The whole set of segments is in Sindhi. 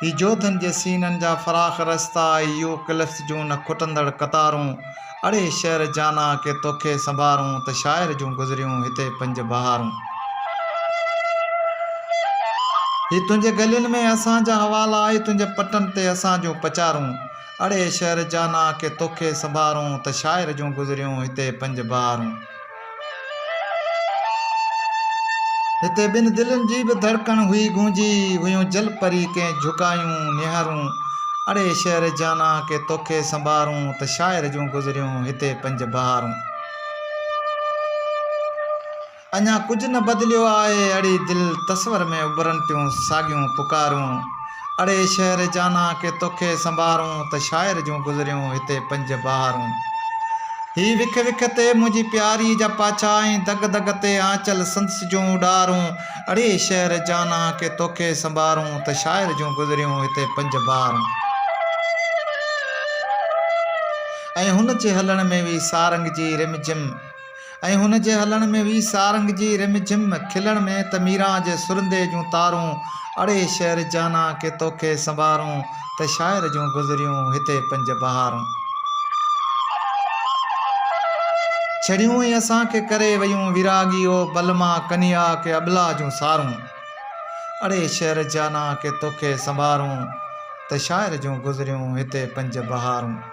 هي جوڌن جي سينن جا فراخ رستا اي يو ڪلفس جون نه کٽندڙ قطارون اڙي شعر جانا ڪي توکي سنڀارون ته شاعر جون گذريون هتي پنج بهارون. هي تنهنجي گلين ۾ اسان جا حوالا اي تنهنجي پٽن تي اسان جون پچارون اڙي شعر جانا ڪي توکي سنڀارون ته شاعر جون گذريون هتي پنج بهارون. هتي ٻن دلين جي به ڌڙڪڻ هئي گونجي هيون جل پري ڪئين جهڪايون نهارون اڙي شهر جانا ڪي توکي سنبارون ته شاعر جون گذريون هتي پنج بهارون اڃا ڪجهه نه بدليو آهي اڙي دل تصور ۾ اڀرن ٽيون ساڳيون پڪارون اڙي شهر جانا ڪي توکي سنبارون ته شاعر جون گذريون هتي پنج بهارون هي وک وک تي منهنجي پياري جا پاڇا ۽ دڳ دڳ تي آنچل سندس جون اڏارون اڙي شهر جانا ڪي توکي سنبارون ته شاعر جون گذريون هتي پنج بهارون ۽ هن جي هلڻ ۾ وي سارنگ جي رم جم ۽ هن جي هلڻ ۾ وي سارنگ جي رم جھم کلڻ ۾ ته ميران جي سرندي جون تارون اڙي شعر جانا ڪي توکي سنبارون ته شاعر جون گذريون هتي پنج بهارون ڇڙيون ۽ اسان کي ڪري ويون ويراڳي او بلما ڪنيا ڪي ابلا جون سارون اڙي شعر جانا ڪي توکي سنبارون ته شاعر جون گذريون هتي پنج بهارون.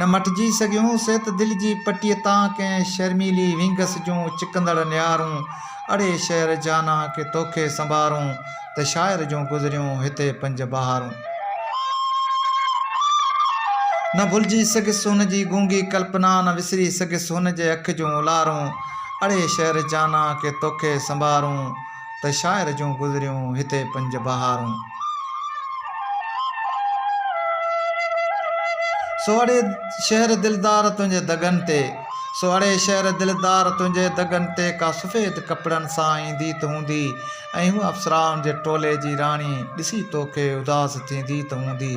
نه مٽجي سگهيون سي ته دل جي پٽيء تان ڪنهن شرميلي وينگس جون چڪندڙ نيارون اڙي شعر جانا ڪي توکي سنبارون ته شاعر جون گذريون هتي پنج بهارون نه ڀلجي سگهيس هن جي گونگي ڪلپنا نه وسري سگهيس هن جي اک جون اولارون اڙي شعر جانا ڪي توکي سنبارون ته شاعر جون گذريون هتي پنج بهارون. سو اڙي شهر دلدار تنهنجي دڳن تي. سو اڙي شهر دلدار تنهنجي دڳن تي ڪا سفيد ڪپڙن سان ايندي ته هوندي ۽ هوء اپسرائن جي ٽولي جي راڻي ڏسي توکي اداس ٿيندي ته هوندي.